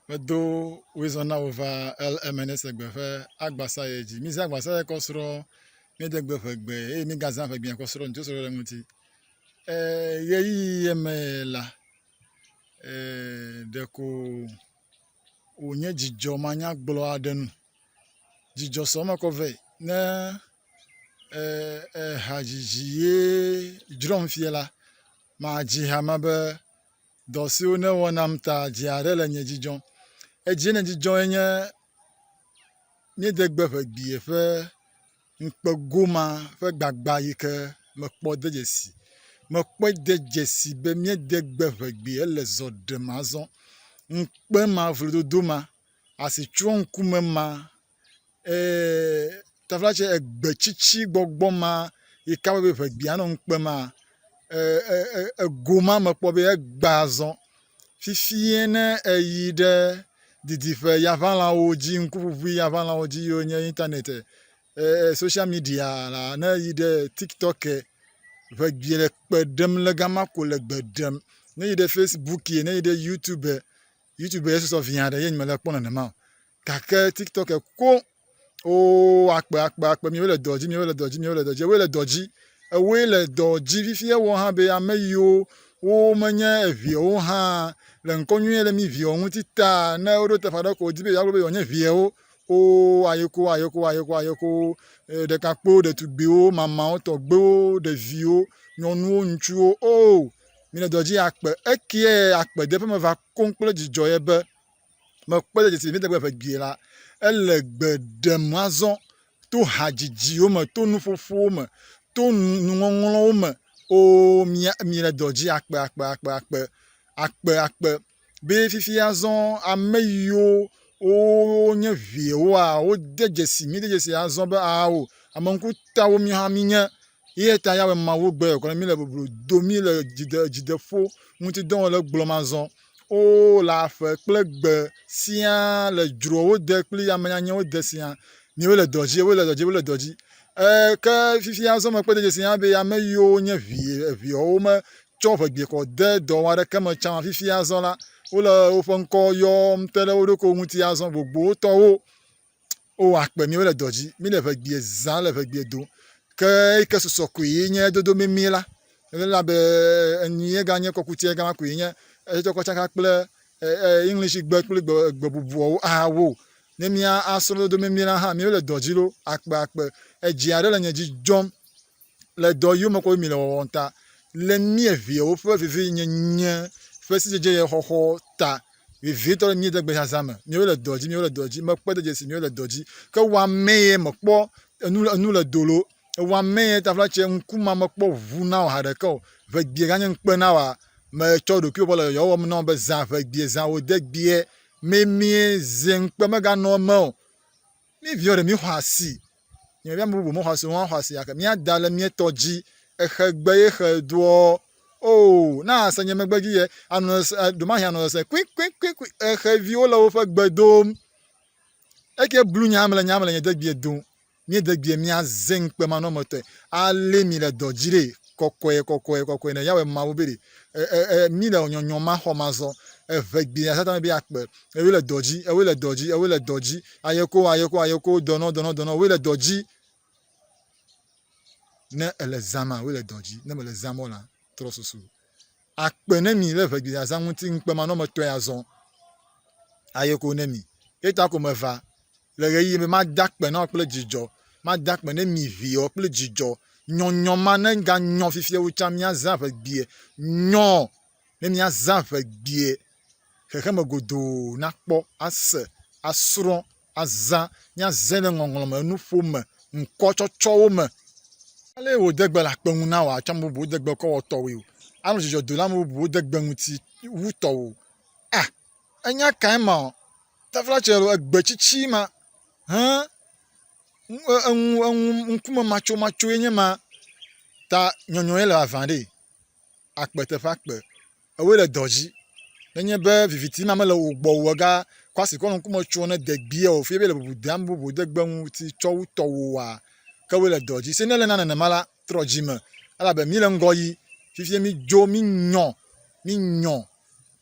Medo wizɔn na wò va El Emenese gbe ƒe agbasa ye dzi. Mize agbasa ye kɔ srɔ, miede gbe ƒe gbe, eye migazã ƒe gbea kɔ srɔ ŋutsu srɔ ɖe ŋuti. Ɣeyiɣi ye me la, ɖeko wònye dzidzɔ manyagblɔ aɖe nu. Dzidzɔ sɔ me kɔ vɛ ne hadzidzi ye dzrɔm fia la, madzi ha me be dɔ siwo nèwɔ nam ta dzi aɖe le nye dzidzɔ. Edzie nèdzidzɔ enye míede gbe ƒe gbie ƒe ŋukpe goma ƒe gbagba yi ke mekpɔ de dzesi. Mekpɔe de dzesi be míede gbe ƒe gbi ele zɔ ɖem azɔ. Ŋukpe ma, vlododo ma, asitsyɔ̃ŋkume ma taflatse egbe tsitsi gbɔgbɔ ma yi ke wɔbe ŋegbea nɔ nu kpem maa ego ma mekpɔ be egba zɔ fifia ne eyi ɖe didiƒe yaŋalãwo dzi ŋkuŋuŋui yaŋalãwo dzi yiwo nye internet e social media la ne eyi ɖe tiktok e ŋegbi le kpe ɖem le ga ma ko le gbe ɖem. Ne eyi ɖe facebook e ne eyi ɖe youtube e youtube ye susɔ viaɖe ye nye mele ekpɔm nenema o. gake tiktok ko o akpe akpe akpe miwo le dɔ dzi miwo le dɔ dzi miwo le dɔ dzi ewoe le dɔ dzi ewoe le dɔ dzi fifi ewɔ hã be ame yiwo wo menye eviawo hã le ŋkɔ nyuie le mi viawo ŋuti ta ne woɖo teƒe aɖe ko wodi be yewoagblɔ be yewo nye viawo o ayeko ayeko ayeko ayeko ɖekakpuiwo ɖetugbiwo mamawo tɔgbewo ɖeviwo nyɔnuwo ŋutsuwo o mi le dɔ dzi akpe ekie akpe de ƒe me va koŋ kple dzidzɔ ye be mekpɔe le dzesi Mide Gbe Ƒe Due la, ele gbe ɖem azɔ to hadzidziwo me, to nuƒoƒowo me, to nuŋɔŋlɔwo me. Oo, mile dɔ dzi akpe, akpe, akpe, akpe, akpe, akpe be fifi azɔ ame yiwo wonye viewoa, wode dzesi, míde dzesi azɔ be ao, ame ŋkutawo míwo hã mínye. Eya ta Yawe Mawu gbe gblɔ mí le boblo do mí le dzide, dzideƒo ŋuti dɔ wɔm le gblɔ ma zɔ. O, le aƒe kple gbe siaa, le dzrowo de kpli ame nyanyɛwo de siaa, miwo le dɔ dzi, wo le dɔ dzi, wo le dɔ dzi. E, ke fifi azɔ me kpɔ de dzesi hã be ame yiwo nye vi, viɔwo me tsɔ ʋegbekɔ de dɔ wɔ aɖeke me tsã, fifi azɔ la, wole woƒe ŋkɔ yɔm te ɖe wo ɖokuiwo ŋuti azɔ, gbogbotɔwo. wo wa kpe mi wo le dɔ dzi mi le ʋegbie zã le ʋegbie dom ke eyike susɔ koe ye nye dodo mimi la ela be enu ye ganye kɔkuti ye gama koe nye etsɔ kɔ tsaka kple english gbe kple gbe gbe bubuawo awo ne mi asrɔ dodo mimi la hã mi wo le dɔ dzi lo akpe akpe edzi aɖe le nye dzi dzɔm le dɔ yome koe mile wɔwɔm ta le mía viawo ƒe vivinyenye ƒe sidzedzedze xɔxɔ ta vevitɔ le mía degbe zazã me míawo le dɔ dzi míawo le dɔ dzi mekpe de dzesi míawo le dɔ dzi ke wɔamee mekpɔ enu le enu le dolo wɔamee tafla tse ŋkume mekpɔ ʋu na o haɖeke o ʋegbie ganye ŋukpe na wa metsɔ ɖokuiwo bɔ le yɔyɔ wɔm na wo be zã ʋegbie zã wò degbie memie zi ŋukpe meganɔ eme o Mí viwo ɖe mí xɔ asi. Nye vi ame bubu me xɔ asi, wohã xɔ asi yake. Mía da le mía tɔ dzi. Exe gbe ye xe doɔ. Oo, na ase nye megbe dzi ye. Anɔ sese, eh, ɖomahi anɔ sese kuikuikuikui. Exe viwo le woƒe gbe dom. Eke blu nya mle nya mle nye degbie dom. Mía degbie mía ze ŋkpe manɔmetɔe. Ale mi le dɔ dzi ɖe kɔkɔe kɔkɔe kɔkɔe ne Yahweh Mawu be ɖe. Eh, eh, eh, mí le nyɔnyɔ ma xɔ mazɔ. Evegbie ya Satan be ya kpe. Ewe le dɔ dzi, ewe le dɔ dzi, ewe le dɔ dzi. Ayeko, ayeko, ayeko, dɔnɔ, dɔnɔ, dɔnɔ, ewe le dɔ dzi. Ne ele zã ma, ewe le dɔ dzi. Ne mele zã mɔ la, trɔ susu. Akpe ne mi le ʋegbi azã ŋuti ŋukpemanɔmetɔe azɔ. Ayeko ne mi. Eta ko meva le ɣeyiɣi be mada akpe na wò kple dzidzɔ. Mada akpe ne mi viwo kple dzidzɔ. Nyɔnyɔ ma neganyɔ fifia wu tsã míazã ʋegbie. Nyɔ! ne míazã ƒe gbea xexeme godoo nakpɔ, ase, asrɔ̃, azã, míazẽ ɖe ŋɔŋlɔ me, nuƒo me, ŋkɔtsɔtsɔwo me. Ale wòde gbe le akpe ŋu na wò atsɔ ame bubuwo de gbe kɔ wɔ tɔwòe o. Anɔ dzidzɔ do le ame bubuwo de gbe ŋuti wu tɔwò. A, ènya kae ma ɔ? Tafla tsɛ lɔ, egbe tsitsi ma he eŋu eŋu ŋkumematsomatsoe nye ma ta nyɔnyɔe le vavã ɖee. akpe teƒe akpe ewoe le dɔ dzi. Nenye be viviti ma mele wo gbɔ o ega kɔ asi kɔ nɔ ŋkume tsom ne degbea o fie be le bubu deam bubu de gbe ŋuti tsɔ wu tɔwoa ke woe le dɔ dzi. Se ne le na nenema la trɔ dzime elabe mi le ŋgɔ yi fifia mi dzo mi nyɔ mi nyɔ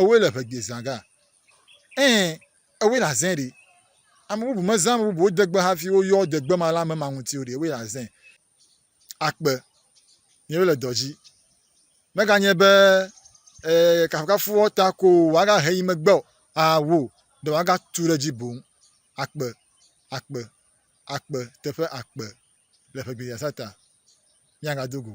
Ewɔe le ŋɛgbe zã ga. Ɛɛ, ewɔe le azẽ ɖi. Ame bubu mezã ame bubuwo degbe hafi woyɔ degbe ma le ame ma ŋuti o ɖi. Ewɔe le azẽ. Akpe. Míawo le dɔ dzi. Meganye be, e, kafukafuwɔwɔ ta ko wòagahe yi megbe o, ao, ɖe wòagatu ɖe edzi boŋ. Akpe. Akpe. Akpe. Teƒe akpe. Le ŋɛgbe zã ta. Míagado go.